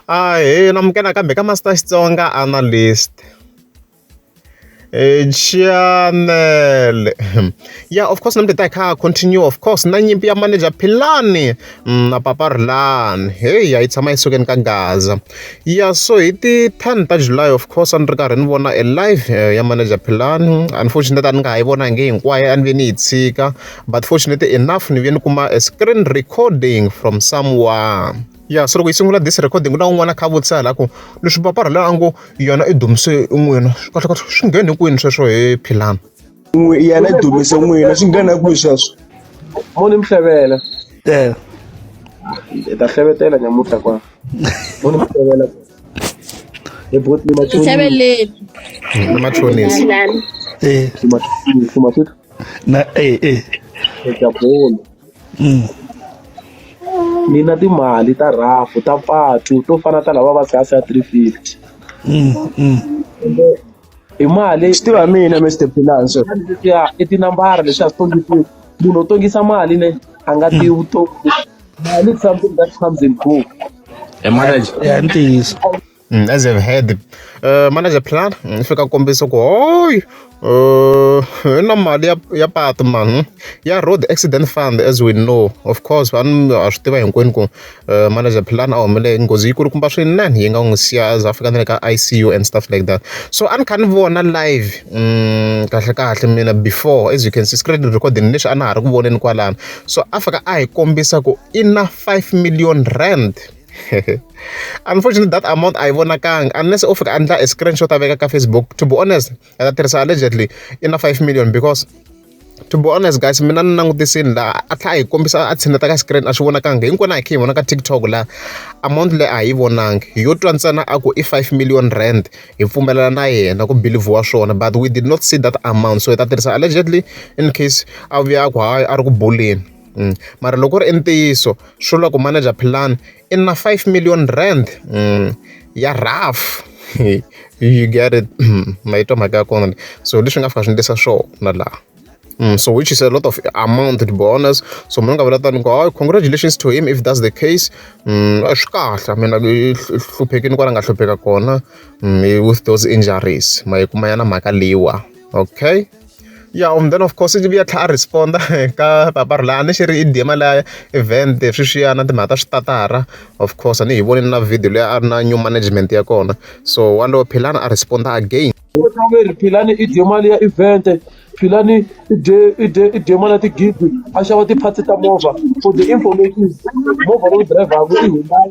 Ahee na amukela nakambe ka Master Xitsonga Analyst. Chanele ya of course namuntlha hi ta hi kha ha continue of course na nyimpi ya manager Philani mm, na Papa Rilani heyi a yi tshama yi sukeni ka Gaza ya so hi ti 10 ta July of course a ni ri karhi ni vona a live eh, ya manager Philani unfortunately a ni nga ha yi vonangi hinkwayo a ni ve ni yi tshika but fortunately enough ni vuye ni kuma a screen recording from someone ya so loko yi sungula this recording ku na un'wana kha vutisa la ku leswi papara la a ngo yona i dumise n'wina kahlekahle swi ngheni kwini sweswo hi philana yena i dumise n'wina swi nghena kwihi sweswo moni mhlevela e hi ta hlevetela nyamutlha kwa moni mhlevela hi botli machonisi machonisi e na e e eka bolo ni na timali ta rhafu ta patu to fana ta lava va kasi ya 350 hi mali swi tiva mina Mr Pilanso ya i tinambara leswi a swi tongisiwi munhu u tongisa mali ne a nga tivi vutomi mali something that comes and go e manager ya ntiyiso As I've heard manager plan ni fika kombisa ku hoy i na mali ya ya patu mani hmm? ya road accident fund as we know of course vanhu ha swi tiva hinkwenu ku manager plan a humelele nghozi yi kulukumba swinene yi nga n'wi siya za fika na le ka ICU and stuff like that so a ni kha ni vona live hmm, kahle kahle mina before as you can see screen recording lexi a na ha ri ku voneni kwalano so a fika a hi kombisa ku i na five million rand unfortunately that amount a yi vonakanga unless u fika a endla a screenshot a veka ka facebook to be honest a ta tirhisa allegedly i na 5 million because to be honest guys mina ni langutisini laha a tlha a hi kombisa a tshineta ka screen a swi vonakanga hinkwenu a hi khe hi vona ka tiktok laha amount leyi a hi yi vonangi hi yo twa ntsena a ku i 5 million rand hi pfumelela na yena ku bilivhiwa swona but we did not see that amount so hi ta tirhisa allegedly in case a vuya a ku hayi a ri ku buleni mara loko ku ri i ntiyiso swi vula ku manager plan i na five million rand ya rough you get it ma yi twa mhaka ya kona leyi so leswi nga fika swi endlisa swona laha so which is a lot of amount to be honest so munhu a nga vula tano ku hayi congratulations to him if that's the case a swi kahle I mean i hluphekini kwala nga hlupheka kona with those injuries ma yi kuma ya na mhaka leyiwa okay. ya um then of course i vuya tlha a responda ka papa rila a ni xi ri i dema la event sweswiya na timhaka ta switatara of course a ni hi voni na video leyi a ri na new management ya kona so walowo philani a responda again philani i dye mali ya event philani i dye i dye i dye mali ya tigidi a xava ti-parts ta movha for the information movha leyi driver-ku i hundai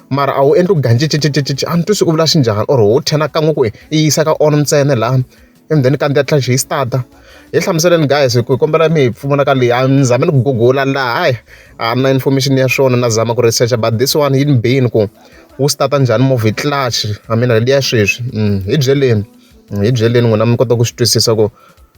mara a wu endli ku gancincicicici a ni twisi u vula xi njhani or ho ten kan'we ku i yisa ka on ntsena laha and then kandziya tlhela xi yi start-a hi hlamuseleni guys hi ku hi kombela mi hi pfuna ka leyi a ni zame ni ku gugula laha hayi a na information ya swona na zama ku research but this one yi ni bini ku wu start-a njhani movie clutch i mean leyi ya sweswi mm, hi byeleni mm, hi byeleni n'wina mi kota ku swi twisisa ku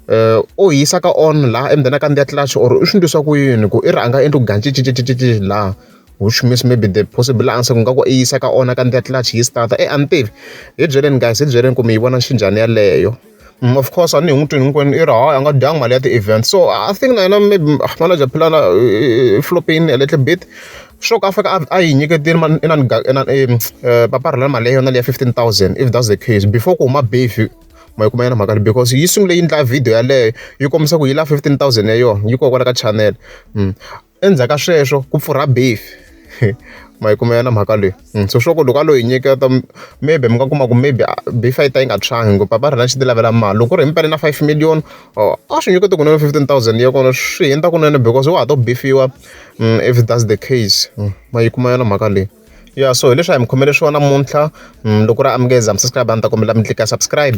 eh, u yisa ka on laha emudeni a kandziya clutch or u swi ndlisa ku yini ku i ri a nga endli ku gancincicicici laha which means maybe the possible answer ku nga ku i yisa ka ona ka ndlela tlula yi start e a ni tivi hi byeleni guys hi byeleni ku mi yi vona xinjhani yaleyo mm, of course a ni hi n'wi twini hinkwenu i ri hayi a nga dyanga mali ya ti-event so i think na yena maybe ah, manager philana flopin a little bit sure ka fika a yi nyiketile paparhela mali ya yona leya 15000 if that's the case before ku huma befi ma yi kuma yena mhaka because yi sungule yi ndla video yaleyo yi kombisa ku yi la 15000 ya yona yi kokwala ka channel mm. endzhaku ka sweswo ku pfurha beef ma yi kumela na mhaka leyi hmm, so sure ku loko a lo yi nyiketa maybe mi nga kuma ku maybe ah, beef a yi ta yi nga tshwangi ngopfu papa rhina xi ti lavela mali loko ri himpela na five million oh, a swi nyikete kunene fifteen thousand ya kona swi hundza kunene because wa ha to beefiwa hmm, if that's the case hmm, ma yi kumela na mhaka leyi ya so hileswi a hi mi khomele swona muntlha loko ri amukeza mi subscribe a ni ta kombela mi tlika subscribe